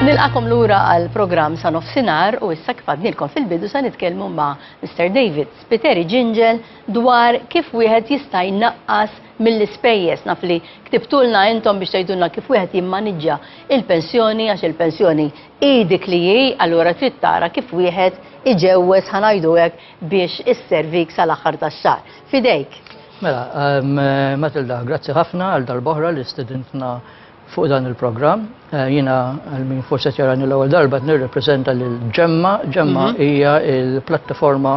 Nilqakom lura għal programm sa nofsinar u issa kif għadnilkom fil-bidu sa nitkellmu ma' Mr. David Spiteri Ġinġel dwar kif wieħed jista' jnaqqas mill-ispejjeż naf li ktibtulna intom biex tgħidulna kif wieħed jimmaniġġa il-pensjoni għax il-pensjoni hi dik li hi allura trid tara kif wieħed iġewweż ħanajdu hekk biex is-servik sal-aħħar tax-xahar. Fidejk. Mela, Matilda, grazzi ħafna għal darb'oħra li stedintna fuq dan il-programm. Jiena għal min forsi qed jarani l-ewwel darba qed nirrepreżenta lil Ġemma. Ġemma hija l-plattaforma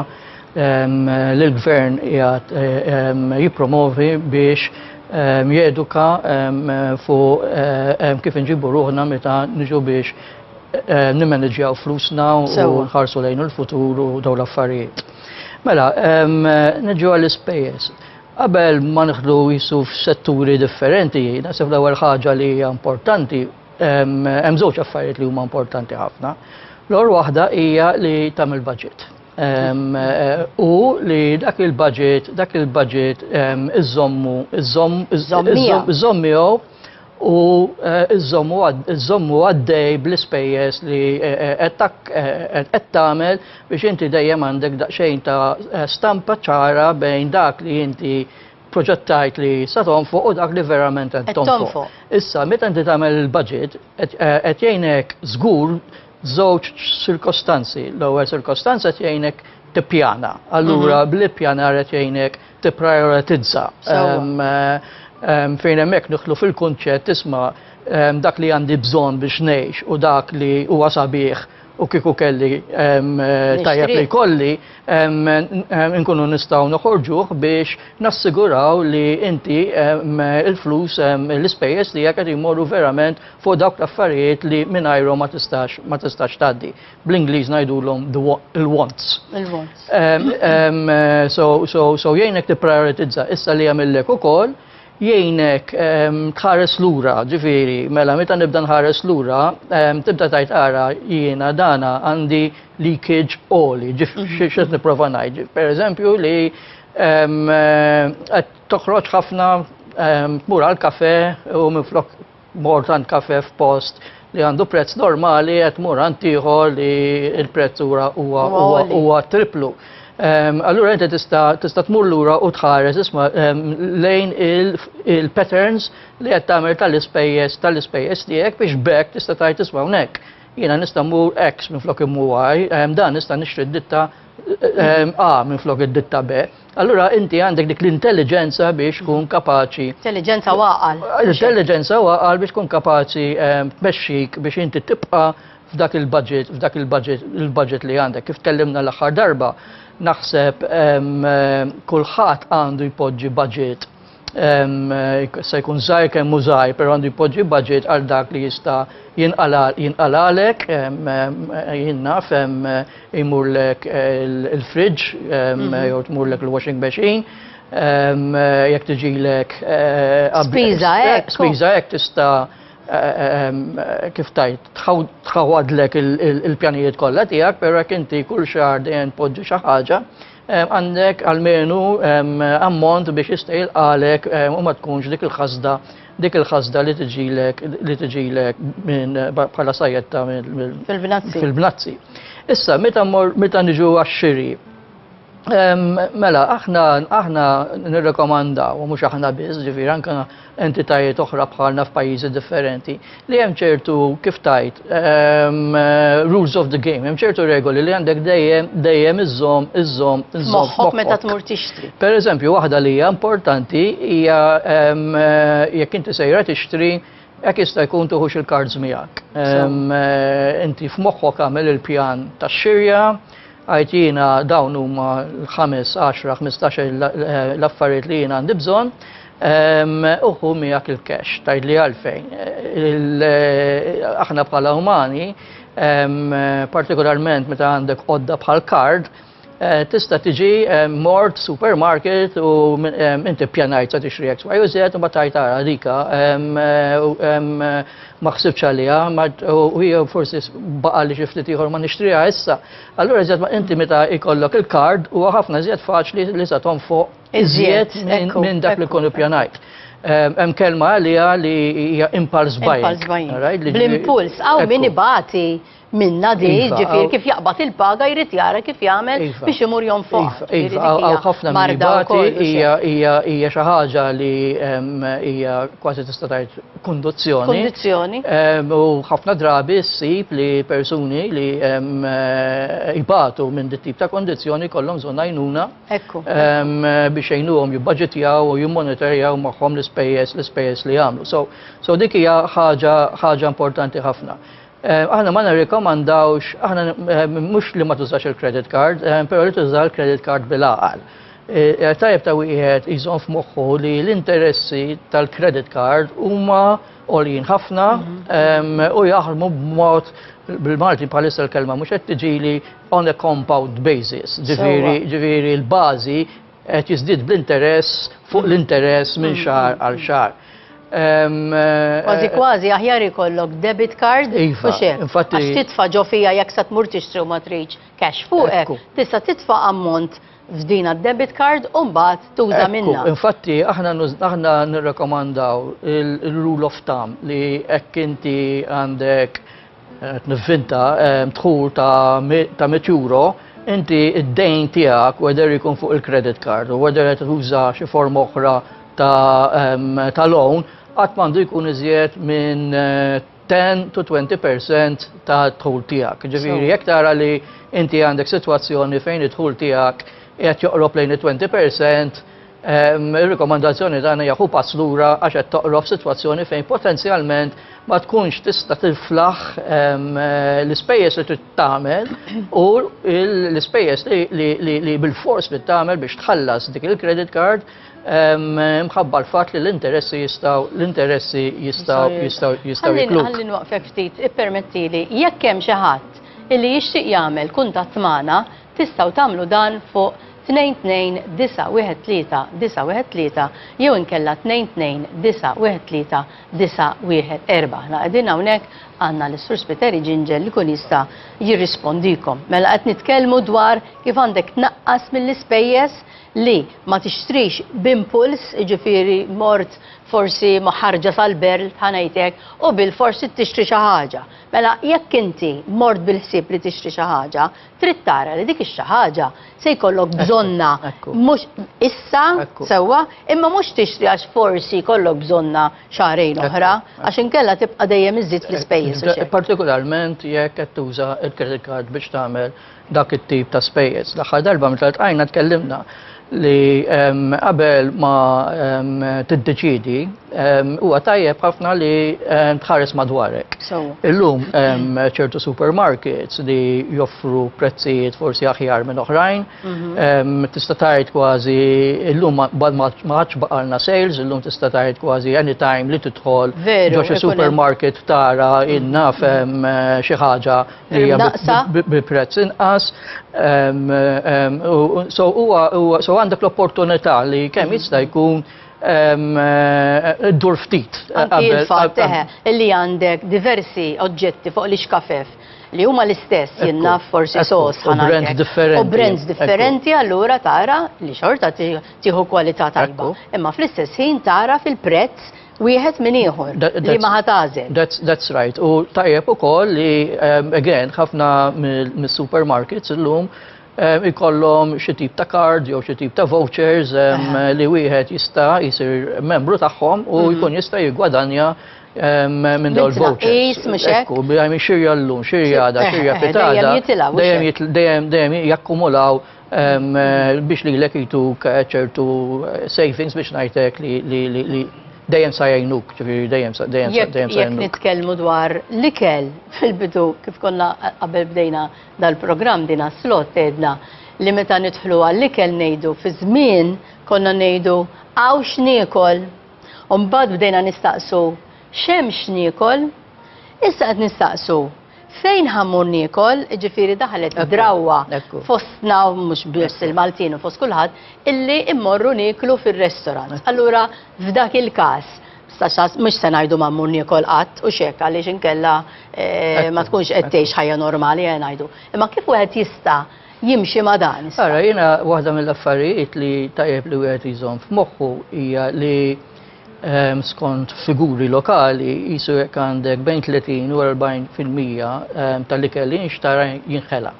li l-gvern qiegħed jippromovi biex jeduka fuq kif inġibu ruħna meta niġu biex nimmaniġġjaw flusna u nħarsu lejn il-futur u dawn l-affarijiet. Mela, niġu għall-ispejjeż. Qabel ma nħdu jisu f'setturi differenti, nasib l-ewwel ħaġa li hija importanti, hemm żewġ affarijiet li huma importanti ħafna. L-ewwel waħda hija li tagħmel budget. U li dak il-budget, dak il-budget iżommu, iżomm, iżomm miegħu u żommu għaddej bl-ispejjeż li qed tagħmel biex inti dejjem għandek daqsxejn ta' stampa ċara bejn dak li inti proġettajt li sa tonfoq u dak li verament qed tonfoq. Issa, meta inti tagħmel il-budget, qed jgħinek żgur żewġ sirkostanzi. L-ewwel sirkostanza qed jgħinek tippjana. Allura bl-ippjanar qed jgħinek tipprioritizza. Fejn hemmhekk nidħlu fil-kunċett isma' dak li għandi bżonn biex ngħix u dak li huwa sabiħ u kieku kelli tajjeb li kolli, nkunu nistgħu noħorġuh biex nassiguraw li inti il-flus l-ispejjeż tiegħek qed jmorru verament fuq dawk l-affarijiet li mingħajrhom ma tistax tgħaddi. bl-Ingliż ngħidulhom il-wants. Il-wants. So jgħinek tipprioritizza issa li jagħmillek ukoll jgħinek tħares lura, ġifieri, mela meta nibda nħares lura, tibda tajt ara jiena dana għandi leakage oli, ġifieri mhm. x'qed nipprova ngħid. Pereżempju li qed toħroġ ħafna tmur għal kafe u minflok Mort għand kafe f'post li għandu prezz normali qed mur għand ieħor li l-prezz ura huwa huwa triplu. Ehm, allura inti tista' tista' tmur lura u tħares isma' ehm, lejn il-patterns li qed tagħmel tal-ispejjeż tal-ispejjeż tiegħek biex bekk tista' tgħid isma' hawnhekk. Jiena nista' mmur X minn flok immu Y, ehm, dan nista' nixtri d-ditta A minn flok id-ditta B. Allura inti għandek dik l-intelligenza biex tkun kapaċi. Intelligenza waqal. Intelligenza waqal biex tkun kapaċi ehm, tmexxik biex inti tibqa' f'dak il-budget, f'dak il-budget, il-budget li għandek. Kif tkellimna l-aħħar darba, naħseb ehm, kulħadd għandu jpoġġi budget se jkun żgħir kemm hu żgħir, però għandu jpoġġi budget għal dak li jista' jinqalalek, jien naf jmurlek il-fridge mhm. jew tmurlek il-washing machine, jekk tiġilek eh, spiża hekk. Spiża hekk tista' eh, kif tajt, tħawadlek il-pjanijiet kollha tiegħek, però jekk inti kull xahar dejjem tpoġġi xi ħaġa, Għandek almenu ammont biex jista' jilqalek u ma tkunx dik il-ħasda dik il-ħasda li tiġilek li tiġilek minn bħala sajjetta fil-bnazzi. Fil-bnazzi. Issa meta meta niġu għax-xiri Mela, aħna aħna nirrekomandaw, mhux aħna biss, ġifier anke entitajiet oħra bħalna f'pajjiżi differenti li hemm ċertu kif tajt um, rules of the game, hemm ċertu regoli li għandek dejjem dejjem iżżomm iżżomm iżżomm. Moħħok meta tmur tixtri. Per eżempju, waħda li hija importanti hija um, jekk inti sejra tixtri Ek jista' jkun tuħux il-kards miegħek. Eh, inti f'moħħok għamel il-pjan tax-xirja, Agħtina dawn huma l-ħames, għaxra, ħmistax-il l-affarijiet li jien għandi bżonn, u ħu miegħek il-cash, tgħidli għalfejn. Aħna bħala umani, partikolarment meta għandek għodda bħal kard, Eh, tista tiġi eh, mort supermarket u eh, inti pjanajt sa tixri X, Y u Z u battaj tara dika ma ħsibx għaliha, u jew forsi baqa' li xi ftit ieħor ma nixtriha issa, allura iżjed inti meta jkollok il-kard huwa ħafna iżjed faċli li se tonfoq iżjed minn dak li kun ippjanajt. Ehm, hemm kelma għaliha li hija impulse buying. Bl-impuls, hawn min ibati minna di, iva, ġifir kif jaqbad il-paga jrid jara kif jagħmel iva. biex imur jom fuq. Iva, għaw ħafna marbati hija xi ħaġa li hija kważi tista' tgħid kunduzzjoni. Kundizzjoni. U ħafna drabi ssib li persuni li jbatu minn dit tip ta' kondizzjoni kollhom bżonn għajnuna biex jgħinuhom jibbaġitjaw u jimmonitorjaw magħhom l-ispejjeż l-ispejjeż li jagħmlu. So dik hija ħaġa importanti ħafna. Aħna ma nirrikomandawx, aħna mhux li ma tużax il-credit card, però li tuża l-credit card bil-għaqal. Tajjeb ta' wieħed jżomm f'moħħu li l-interessi tal-credit card huma għoljin ħafna mhm. u jaħdmu b'mod bil-Malti bħalissa l-kelma mhux qed tiġili on a compound basis. Ġifieri l-bażi qed jiżdied bl-interess fuq l-interess minn xahar għal xahar. Kważi kważi aħjar ikollok debit card u iva, xek. Għax titfa ġo fija jekk sa tmur tixtri u ma tridx cash fuqek, tista' titfa ammont f'dina debit card u mbagħad tuża minna. Infatti aħna aħna nirrekomandaw il-rule of thumb li hekk inti għandek Qed nivvinta ehm, dħul ta' mit euro, inti id-dejn tiegħek whether ikun fuq il-credit card u whether qed tuża xi form oħra ta' ehm, loan qatt m'għandu jkun iżjed minn eh, 10 to 20% ta' tħul tijak. Ġifiri, jek tara li inti għandek situazzjoni fejn it-tħul tijak jgħat joqrob lejn 20%, Ir-rikomandazzjoni tagħna hija ħu pass lura għax qed toqrob sitwazzjoni fejn potenzjalment ma tkunx tista' tiflaħ l-ispejjeż li trid tagħmel u l-ispejjeż li bil-fors li tagħmel biex tħallas dik il-credit card mħabba l-fatt li l-interessi jistaw l-interessi jistaw jistaw jistaw jikluk. Għallin waqfek ftit, ippermettili, jekk hemm xi ħadd illi jixtieq jagħmel kuntatt magħna, Tistgħu tagħmlu dan fuq 2291913 jew inkella 2291914. Aħna qegħdin hawnhekk għandna lis-Sur Spiteri Ġinġel li jkun jista' jirrispondikom. Mela qed nitkellmu dwar kif għandek tnaqqas mill-ispejjeż li ma tixtrix b'impuls, jiġifieri mort forsi ma' ħarġa tal-berl, ħa ngħid hekk, u bilfors trid tixtri xi ħaġa. Mela jekk inti mort bil-ħsieb li tixtri xi ħaġa, trid tara li dik ix-xi ħaġa se jkollok bżonnha mhux issa sewwa, imma mhux tixtri għax forsi jkollok bżonnha xahrejn oħra għax inkella tibqa' dejjem iżżid fl-ispejjeż. Partikolarment jekk qed tuża l-credit card biex tagħmel dak it-tip ta' spejjeż. L-aħħar darba meta ltqajna tkellimna li qabel ma tiddeċiedi huwa tajjeb ħafna li tħares madwarek. Illum ċertu supermarkets li joffru prezzijiet forsi aħjar minn oħrajn, mhm. tista' tgħid kważi illum ma ħadx baqalna sales, illum tista' tgħid kważi anytime li tidħol ġo xi supermarket tara innaf xi ħaġa Naqsa. Bi prezz inqas. So huwa so għandek l-opportunità li kemm mhm. jista' jkun eh, dur ftit. Il-fatt li għandek diversi oġġetti fuq l-iskafef li huma l-istess jenna forsi sos ħana. Brands differenti. U brands differenti allura tara li xorta tieħu kwalità tajba. Imma fl-istess ħin tara fil-prezz wieħed minn ieħor li ma ħa tagħżel. That's, that's right. U tajjeb ukoll li, um, again, ħafna mis-supermarkets illum um, ikollhom xi tip ta' card jew xi tip ta' vouchers um, uh-huh. li wieħed jista' jsir membru tagħhom u mhm. jkun jista' jiggwadanja minn dawl vouchers. Ekku, bħajmi xirja l-lum, xirja għada, xirja pitada, dejjem jakkumulaw biex lilek jtuk ċertu savings biex ngħidlek li dejjem sa jgħinuk, ġifieri dejjem sa dejjem sa dejjem sa Jekk nitkellmu dwar l-ikel fil-bidu kif konna qabel bdejna dal-programm dina slot tgħidna li meta nidħlu għall-ikel ngħidu fi żmien konna ngħidu hawn x'niekol. U mbagħad bdejna nistaqsu x'hemm x'niekol? Issa qed nistaqsu Fejn ħa mmur niekol, ġifieri daħlet drawwa fostna, mhux biss il-Maltin u fost kulħadd, illi mmorru nieklu fir-restaurant. Allura f'dak il-każ, mhux se ngħidu ma mmur niekol qatt u x'hekk għaliex inkella eh, ma tkunx qed tgħix ħajja normali eh, ngħidu. Imma kif wieħed jista' jimxi ma dan? Ara, jiena waħda mill-affarijiet li tajjeb li wieħed jżomm f'moħħu hija li skont figuri lokali, jisu jekk għandek bejn 30 u 40 fil-mija tal-ikel li jinxtara jinħela.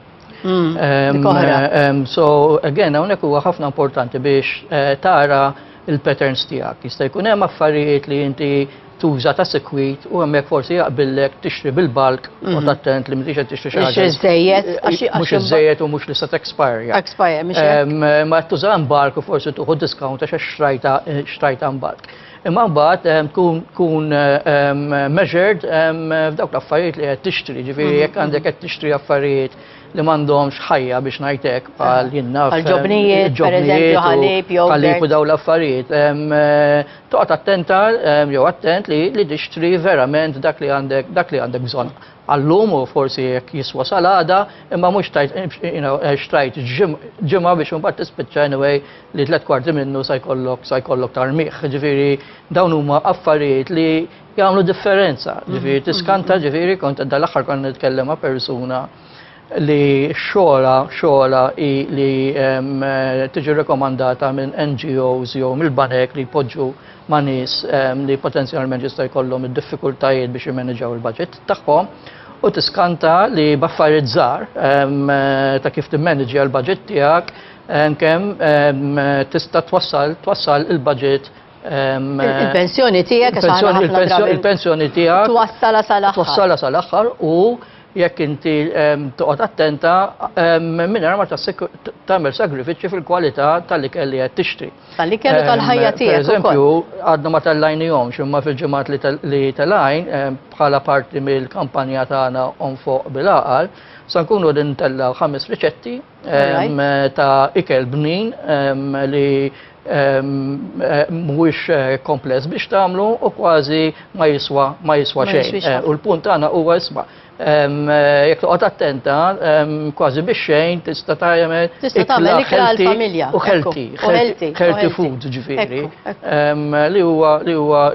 Mm, so, again, hawnhekk huwa ħafna importanti biex eh, tara il-patterns tiegħek. Jista' jkun hemm affarijiet li inti tuża ta' sekwit u hemmhekk forsi jaqbillek tixtri bil-balk u mhm. tattent li mhix qed tixtri xi ħaġa. Mhux iżejjed, mhux iżejjed u mhux li se expire. Expire, mhux. Ma tuża balk u forsi tuħu discount għax xrajta xtrajtha mbagħad. Imma mbagħad ehm, tkun tkun ehm, measured ehm, f'dawk l-affarijiet li qed tixtri, ġifieri jekk għandek qed tixtri affarijiet li m'għandhomx ħajja biex ngħidlek bħal jinnaf. Bħal ġobnijiet, pereżempju ħalib jew. Ħalib u dawn l-affarijiet. Eh, toqgħod attenta jew attent li li tixtri verament dak li għandek dak li għandek bżonn għallum u forsi jekk jiswa salada, imma mhux xtrajt ġimgħa biex imbagħad tispiċċa anyway li tliet kwarti minnu sa jkollok sa jkollok tarmigħ. Ġifieri dawn huma affarijiet li jagħmlu differenza. Mhm, ġifieri mhm, tiskanta mhm. ġifieri kont dal-aħħar kont nitkellem ma' persuna li xogħla xogħla li tiġi rekomandata minn NGOs jew mill-banek li jpoġġu ma' nies li potenzjalment jista' jkollhom id-diffikultajiet biex jimmaneġaw il-budget tagħhom u tiskanta li baffariet żgħar ta' kif timmaneġja l-budget tiegħek Kemm tista' twassal twassal il-budget Il-pensjoni tiegħek għax aħna ħafna drabi- il-pensjoni il-pensjoni tiegħek Twassala sal-aħħar. twassala sal-aħħar u jekk inti em, toqgħod attenta em, mingħajr ma tassik- t- tagħmel sagrifiċċji fil-kwalità tal-ikel li qed tixtri. Tal-ikel u Em, tal-ħajja tiegħek Per eżempju, għadna ma tellajnihomx imma fil-ġimgħat li tel- li telajn em, bħala parti mill-kampanja tagħna on fuq bil-għaqal, sa nkunu din tellaw ħames riċetti ta' ikel bnin li mhuwiex eh, kompless biex tagħmlu u kważi ma jiswa ma jiswa xejn. Eh, u l-punt tagħna huwa isma' eh, jekk toqgħod attenta kważi biex xejn tista' tagħmel tista' tagħmel ikla familja u healthy, healthy food ġifieri li huwa li huwa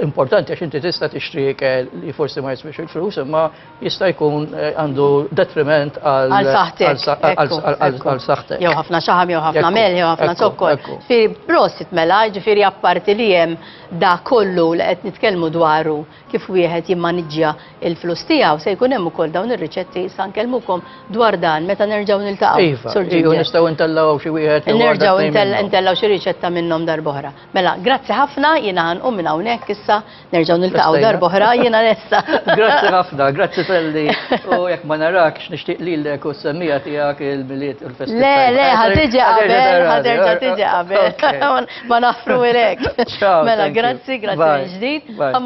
importanti għax inti tista' tixtri ikel li forsi ma jiswix il-flus imma jista' jkun eh, għandu detriment għal għal saħtek. Jew ħafna xaħam, jew ħafna mel, jew ħafna zokkor. Fi prosit mela, ġifieri apparti li hemm da kollu li qed nitkellmu dwaru kif wieħed jimmaniġġja il-flus tiegħu se jkun hemm ukoll dawn ir-riċetti sa nkellmukom dwar dan meta nerġgħu niltaqgħu. Iva, nistgħu ntellgħu xi wieħed. Nerġgħu ntellgħu xi riċetta minnhom darb'oħra. Mela, grazzi ħafna, jiena ħanqum minn hawnhekk issa, nerġgħu niltaqgħu darba oħra, jiena lesta. Grazzi ħafna, grazzi Felli, u jekk ma narakx nixtieq lilek u s-semmija tiegħek il-miliet u l-festa. Le, le, ħad tiġi qabel, ħad terġa' tiġi qabel. Ma naħfru ilek. Mela, grazzi, grazzi ġdid.